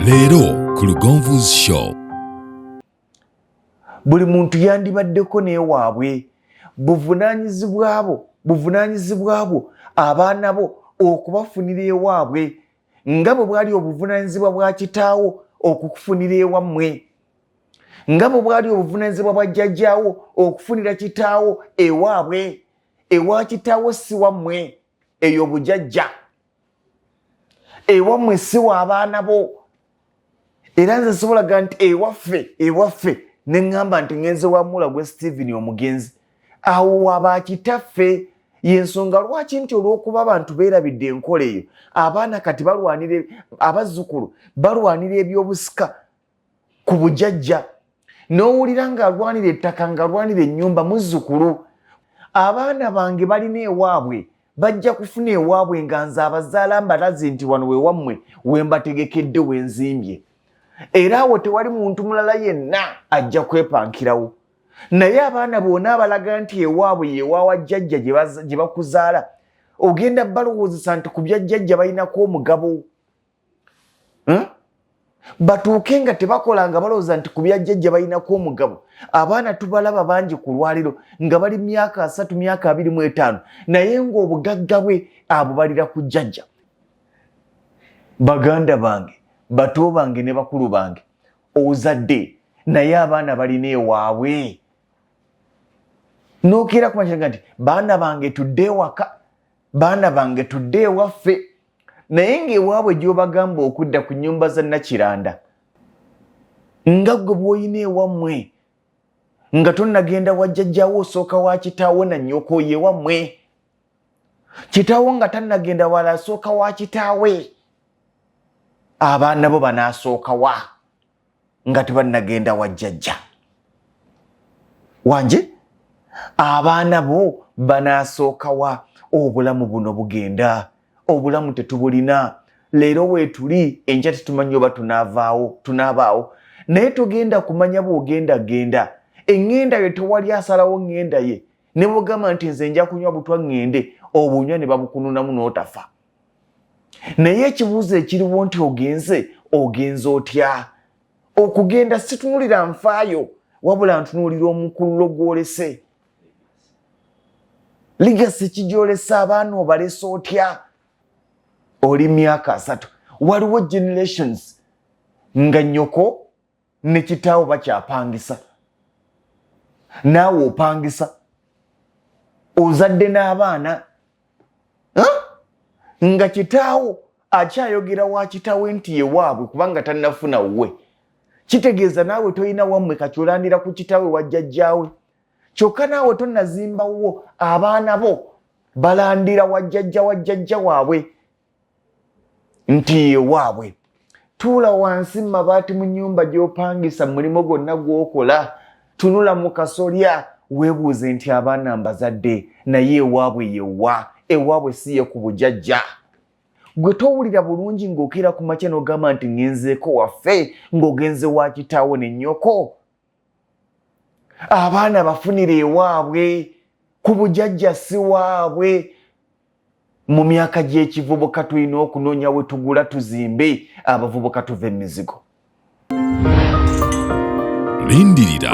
leero ku lugonvu's show buli muntu yandibaddeko naye waabwe buvunanyizibwa bwo buvunanyizibwa bwo abaana bo okubafunira ewaabwe nga bwe bwali obuvunanyizibwa bwa kitaawo okukufunira ewammwe nga bwe bwali obuvunanyizibwa bwa jjajjaawo okufunira kitaawo ewaabwe ewa kitaawo si wammwe eyo bujajja ewamwe siwa abaana bo era nze sobolaga nti ewaffe ewaffe ne ŋŋamba nti ŋenze wa mula gwe steven omugenzi awo wabakitaffe yensonga lwaki nti olwokuba abantu beerabidde enkola eyo abaana kati balwanira abazzukulu balwanira ebyobusika ku bujajja n'owulira ng'alwanira ettaka ng'alwanira ennyumba muzzukulu abaana bange balina ewaabwe bajja kufuna ewaabwe nga nze abazaala mbalazi nti wano we wammwe we mbategekedde we nzimbye era awo tewali muntu mulala yenna ajja kwepankirawo naye abaana bona abalaga nti ewaabwe yewaawa jjajja gye bakuzaala ogenda balowoozesa nti ku bya jjajja balinako omugabo hmm? batuuke nga tebakola nga balowooza nti ku byajjajja balinako omugabo abaana tubalaba bangi ku lwaliro nga bali myaka asatu myaka abiri mu etaano naye ng'obugagga bwe abubalira ku jjajja baganda bange bato bange ne bakulu bange ozadde naye abaana balina ewaabwe nokeera kumakiraga nti baana bange tudde ewaka baana bange tudde ewaffe naye ng'ewaabwe gy'obagamba okudda ku nnyumba za nakiranda nga gwe bw'olina ewammwe nga tonnagenda wajjajjawo osooka wa kitaawo na nnyoko yewammwe kitaawo nga tannagenda wala asooka wa kitaawe abaana bo banaasooka wa nga tebannagenda wa jjajja wanje abaana bo banaasookawa obulamu buno bugenda obulamu tetubulina leero weetuli enkya tetumanyi oba tunaavaawo tunaabaawo naye togenda kumanya bw'ogenda genda eŋŋenda yo tewali asalawo ŋŋenda ye ne bwogamba nti nze nja kunywa butwa ŋŋende obunywa ne babukununamu n'otafa naye ekibuuzo ekiriwo nti ogenze ogenze otya okugenda situnulira nfaayo wabula ntunuulira omukululo gwolese ligasi kigyolesa abaana obalese otya oli myaka asatu waliwo generations nga nyoko ne kitaawo bakyapangisa naawe opangisa ozadde n'abaana nga kitaawo akyayogera wa kitaawe nti yewaabwe kubanga tannafuna wuwe kitegeeza naawe tolina wammwe kaculandira ku kitaawe wajjajjaawe kyokka naawe tonnazimbawo abaana bo balandira wajjajja wajjajja waabwe nti yewaabwe tuula wansi mu mabaati mu nyumba gy'opangisa mu mulimu gwonna gw'okola tunula mu kasolya weebuuze nti abaana mbazadde naye ewaabwe yewa ewaabwe si ye ku bujajja gwe towulira bulungi ng'okeera ku makya n'ogamba nti ŋenzeeko waffe ng'ogenze wa kitaawo ne nnyoko abaana bafunira ewaabwe ku bujajja si waabwe mu myaka gy'ekivubuka tulina okunoonya we tugula tuzimbe abavubuka tuva emizigo lindirira